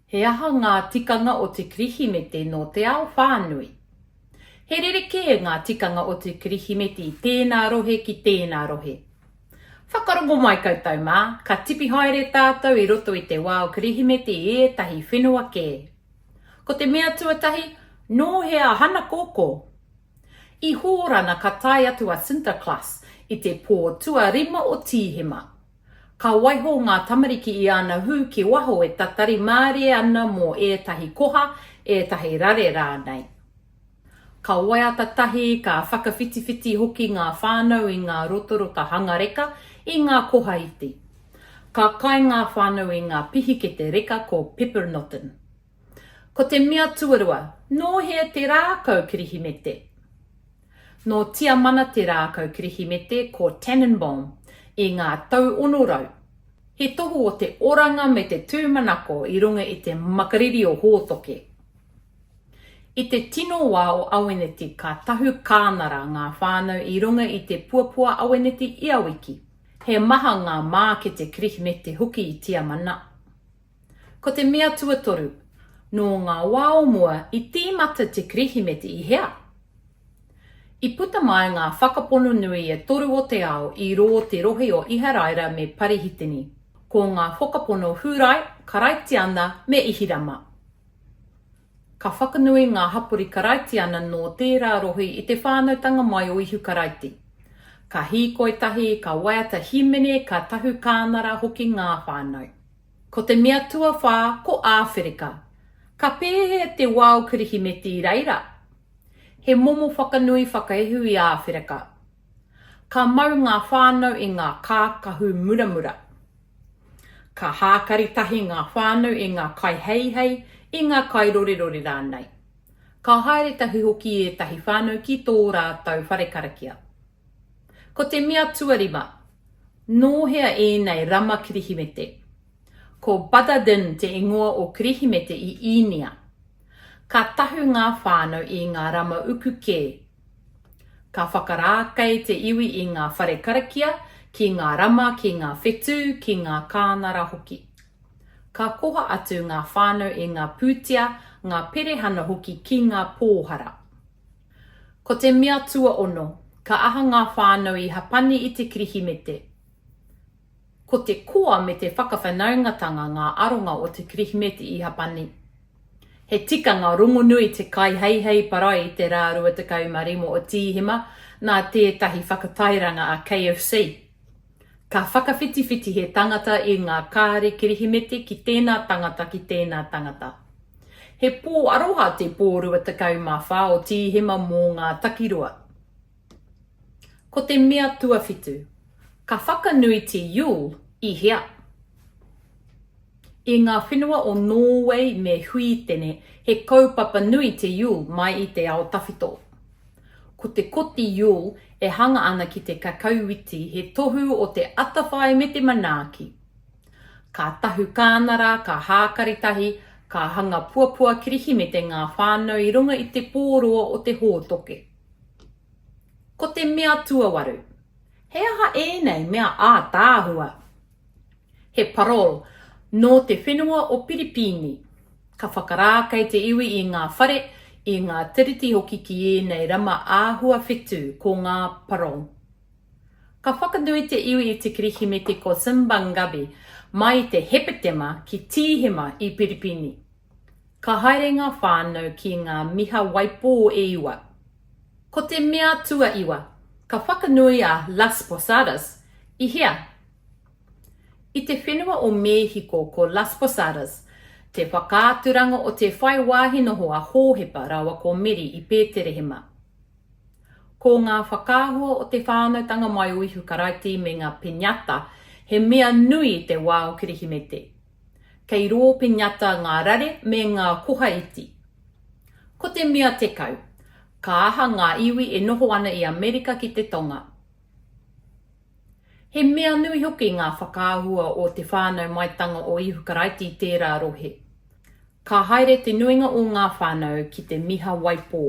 He aha ngā tikanga o te Kirihimete nō te ao whānui? He rerekē ngā tikanga o te Kirihimete i tēnā rohe ki tēnā rohe. Whakarongo mai koutou mā, ka tipi haere tātou i roto i te wā o Kirihimete i ētahi whenua kē. Ko te mea tuatahi, nō hea hana kōkō? I Hōrana ka tae atu a Sinterklaas i te pō tuarima o Tīhema. Ka waiho ngā tamariki i āna hū ki waho e tatari mārie ana mō ētahi koha, ētahi rare rānei. Ka waiata tahi, ka whakawhitiwhiti hoki ngā whānau i ngā rotarota hanga reka, i ngā koha iti. Ka kai ngā whānau i ngā pihikete reka ko Peppernoten. Ko te mea tuarua, nōhea te rākau kirihimete. Nō Tiamana te rākau Kirihimete ko Tannenbaum i ngā tau ono rau. He tohu o te oranga me te tūmanako i runga i te makariri o Hōtoke. I te tino wā o Aweneti ka tahu kānara ngā whānau i runga i te puapua Aweneti ia wiki. He maha ngā mākete Kirihimete hoki i Tiamana. Ko te mea tuatoru, nō ngā wā o mua i tīmata te Kirihimeti i hea? I puta mai ngā whakapono nui e toru o te ao i rō te rohe o Iharaira me Parihitini, ko ngā whakapono Hūrai, Karaitiana me Ihirama. Ka whakanui ngā hapori Karaitiana nō tērā rohe i te whānautanga mai o Ihu Karaiti. Ka hīkoi tahi, ka waiata hīmene, ka tahu kānara hoki ngā whānau. Ko te mea tuawhā ko Āwherika. Ka pēhea te wao Kirihimeti i reira? He momo whakanui whakaehu i Āwherika. Ka mau ngā whānau i ngā kākahu muramura. Ka hākari tahi ngā whānau i ngā kaiheihei, i ngā kairorerore rānei. Ka haere tahi hoki ētahi whānau ki tō rātou whare karakia. Ko te mea tuarima, nō hea ēnei rama Kirihimete? Ko Badadin te ingoa o Kirihimete i Īnia. Ka tahu ngā whānau i ngā rama uku kē. Ka whakarākei te iwi i ngā whare karakia, ki ngā rama, ki ngā whetū, ki ngā kānara hoki. Ka koha atu ngā whānau i ngā pūtea, ngā perehana hoki ki ngā pōhara. Ko te mea tuaono, ka aha ngā whānau i hapani i te Kirihimete? Ko te koa me te whakawhanaungatanga ngā aronga o te Kirihimete i hapani. He tikanga rongonui te kaiheihei parae i te rā 25 o Tīhema, nā tētahi whakatairanga a KFC. Ka whakawhitiwhiti he tangata i ngā kāre Kirihimete ki tēnā tangata, ki tēnā tangata. He pō aroha te pō 24 o Tīhema mō ngā takiroa. Ko te mea tuawhitu, ka whakanui te Yule i hea? I ngā whenua o Nōwei me Huitene, he kaupapa nui te Yule mai i te ao tawhito. Ko te koti Yule e hanga ana ki te kakauwiti he tohu o te atawhai me te manaaki. Ka tahu kānara, ka hākari tahi, ka hanga puapua Kirihimete ngā whānau i runga i te pō roa o te hōtoke. Ko te mea tuawaru, he aha ēnei mea ātaahua? He parole nō te whenua o Piripīni. Ka whakarākei te iwi i ngā whare, i ngā tiriti hoki ki ēnei rama āhua whetū, ko ngā parole. Ka whakanui te iwi i te Kirihimete ko Simbangabi mai i te Hepetema ki Tīhema i Piripīni. Ka haere ngā whānau ki ngā miha waipō e iwa. Ko te mea tuaiwa, ka whakanui a Las Posadas i hea? I te whenua o Mēhiko ko Las Posadas te whakaaturanga o te whai wāhi noho a Hōhepa rāua ko Meri i Pēterehema. Ko ngā whakaahua o te whānautanga mai o Ihu Karaiti me ngā piñata he mea nui i te wā o Kirihimete. Kei rō piñata ngā rare me ngā koha iti. Ko te mea tekau, ka aha ngā iwi e noho ana i Amerika ki te Tonga. He mea nui hoki ngā whakaahua o Te Whānau Maitanga o Ihu Karaiti i tērā rohe. Ka haere te nuinga o ngā whānau ki te miha waipō.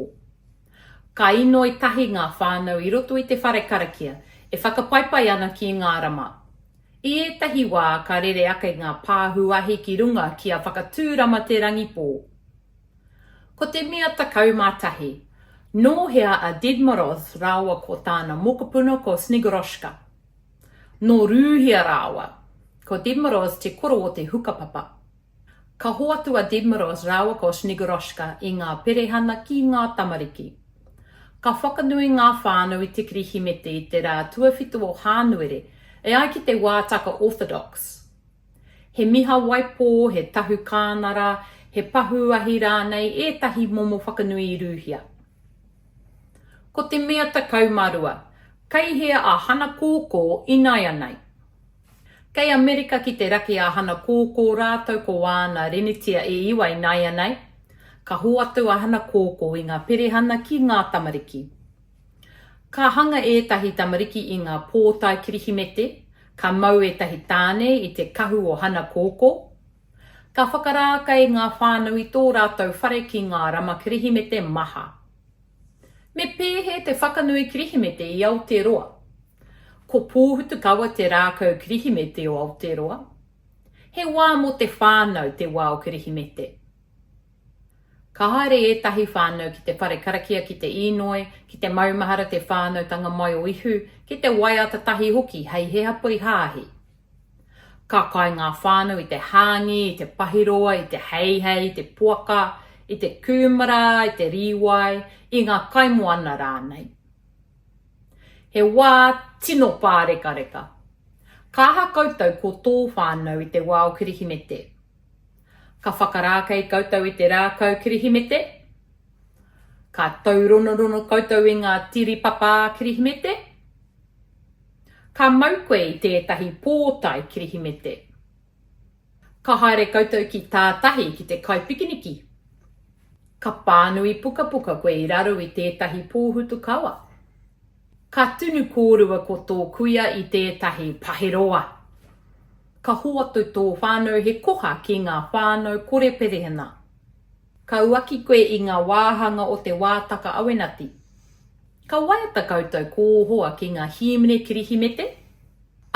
Ka inoi tahi ngā whānau i roto i te whare karakia, e whakapaipai ana ki ngā rama. I ētahi wā ka rere ake ngā pāhu ahi ki runga kia whakatūrama te rangipō. Ko te mea 11. Nō hea a Dedmorov rāua ko tāna mokopuna ko Snegoroshka? Nō Rūhia rāua. Ko Dedmorov te koro o te hukapapa. Ka hoatu a Dedmeros rāua ko Snegoroshka i ngā perehana ki ngā tamariki. Ka whakanui ngā whānau i te Kirihimete i te rā tuawhitu o Hānuere e ai ki te wātaka Orthodox. He miha waipō, he tahu kānara, he pahū ahi rānei ētahi momo whakanui i rūhia. Ko te mea 12, Kei hea a Hanakōkō ināianei? Kei Amerika ki te raki a Hanakō kō rātou ko āna rinitia e iwa inaianei, ka hoatu a Hanakō kō i ngā perehana ki ngā tamariki. Ka hanga ētahi tamariki i ngā pōtae Kirihimete, ka mau ētahi tāne i te kahu o Hanakō kō. Ka whakarākei ngā whānau i tō rātou whare ki ngā rama Kirihimete maha. Me pēhē te whakanui Kirihimete i Aoteroa? Ko Pōhutukawa te rākau Kirihimete o Aotearoa. He wā mō te whānau te wā o Kirihimete. Ka haere ētahi whānau ki te whare karakia ki te īnoi, ki te maumahara te whānautanga mai o Ihu, ki te waiata tahi hoki hei he hapori hāhi. Ka kai ngā whānau i te hāngī, i te pahiroa, i te heihei, i te poaka, i te kūmara, i te rīwai, i ngā kaimoana rānei. He wā tino pārekareka. Ka aha koutou ko tō whānau i te wā o Kirihimete? Ka whakarākei koutou i te rākau Kirihimete? Ka tauronorono koutou i ngā tiripapa Kirihimete? Ka mau koe i tētahi pōtae Kirihimete? Ka haere koutou ki tātahi ki te kai pikiniki? Ka pānui pukapuka koe i raro i tētahi pōhutu kawa? Ka tunu kōrua ko tō kuia i tētahi paheroa? Ka hoatu tō whānau he koha ki ngā whānau kore perehena? Ka uaki koe i ngā wāhanga o te wātaka awenati. Ka waiata koutou kō hoa ki ngā hīmene Kirihimete?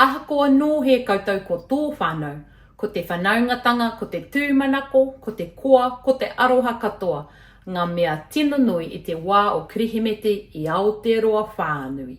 Ahakoa nōhē koutou ko tō whānau, ko te whanaungatanga, ko te tūmanako, ko te koa, ko te aroha katoa, ngā mea tino nui i te wā o Kirihimete i Aotearoa whānui.